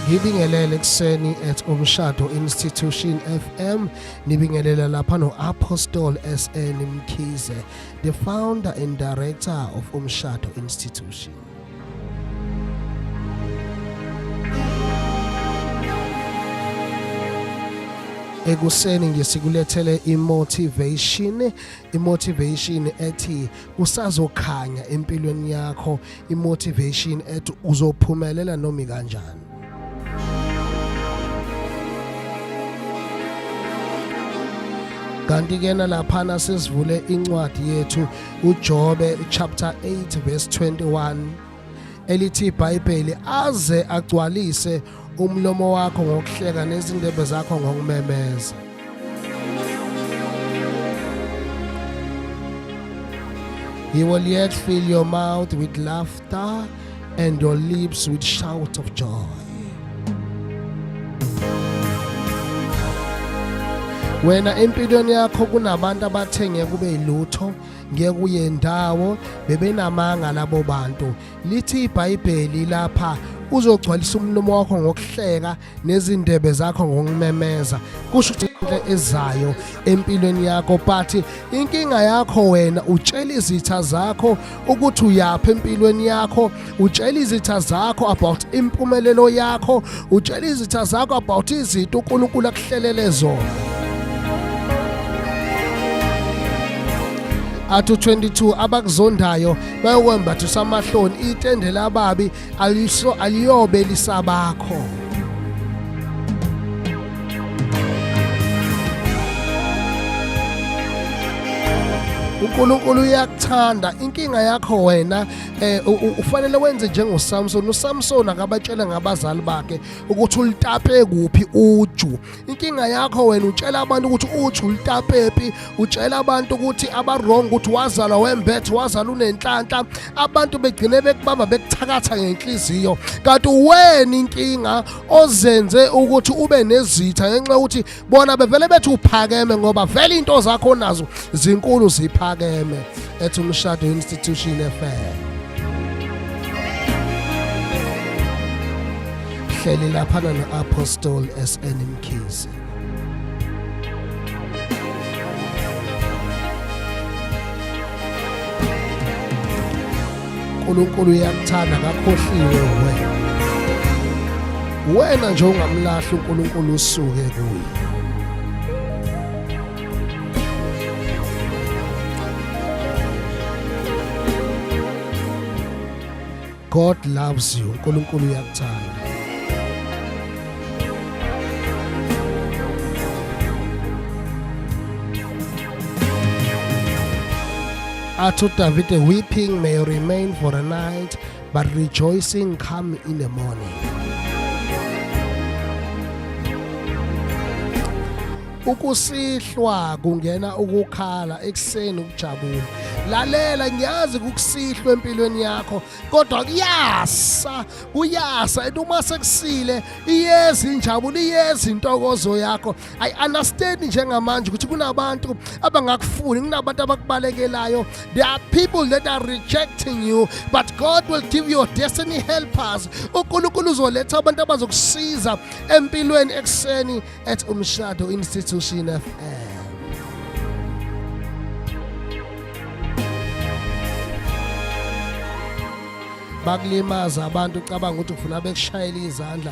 ngibingelele ekuseni at umshado institution fm nibingelela lapha no-apostol sn mkhize the founder and director of umshado institution ekuseni ngisikulethele imotivation imotivation ethi kusazokhanya empilweni yakho imotivation ethi uzophumelela noma kanjani kanti kena laphana sesivule incwadi yethu uJobe chapter 8 verse 21 elithi iBhayibheli aze agcwalise umlomo wakho ngokuhleka nezindebe zakho ngokumemeza He will yet fill your mouth with laughter and your lips with shouts of joy. Wena empilweni yakho kunabantu abathenge kube yilutho ngekuye ndawo bebenamanga labo bantu lithi iBhayibheli lapha uzogcwalisa umlomo wakho ngokuhleka nezindebe zakho ngokumemeza kusho ukuthi into ezayo empilweni yakho but inkinga yakho wena utshela izitha zakho ukuthi uyaphi empilweni yakho utshela izitha zakho about impumelelo yakho utshela izitha zakho about izinto uNkulunkulu akuhlelele zona athu 22 abakuzondayo bayokwembatha usamahloni itende lababi aliso aliyobe lisabakho uNkulunkulu uyakuthanda inkinga yakho wena eh ufanele wenze njengoSamson uSamson akabatshela ngabazali bakhe ukuthi ulitape kuphi uju inkinga yakho wena utshela abantu ukuthi uju ulitapephi utshela abantu ukuthi abarong ukuthi wazalwa wembethe wazalwa unenhlanhla abantu begcine bekubamba bekuthakatha ngenhliziyo kanti uwena inkinga ozenze ukuthi ube nezitha ngenxa yokuthi bona bevele bethi uphakeme ngoba vele into zakho nazo zinkulu ziphakeme ethi umshado institution FM hleli lapha na apostle SN Mkhize uNkulunkulu uyakuthanda kakhohliwe wena wena nje ungamlahli uNkulunkulu usuke kuye God loves you uNkulunkulu uyakuthanda Athi uDavide weeping may remain for a night but rejoicing come in the morning. Ukusihlwa kungena ukukhala ekuseni ukujabula. Lalela ngiyazi kukusihlwa empilweni yakho kodwa kuyasa kuyasa ethi uma sekusile iyeza injabulo iyeza intokozo yakho i understand njengamanje ukuthi kunabantu abangakufuni kunabantu abakubalekelayo there are people that are rejecting you but god will give your destiny helpers unkulunkulu uzoletha abantu abazokusiza empilweni ekuseni at umshado institution fm bakulimaza abantu ucabanga ukuthi ufuna bekushayela izandla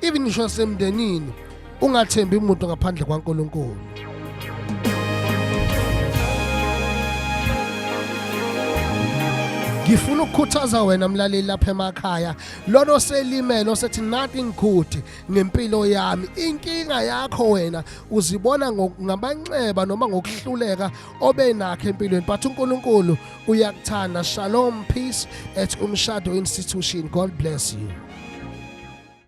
even ngisho semndenini ungathembi umuntu ngaphandle kwaNkulunkulu ngifuna ukukhuthaza wena mlaleli lapha emakhaya lona oselimele osethi nothing good ngempilo yami inkinga yakho wena uzibona ngamanxeba noma ngokuhluleka obe nakhe empilweni but uNkulunkulu uyakuthanda shalom peace at umshado institution god bless you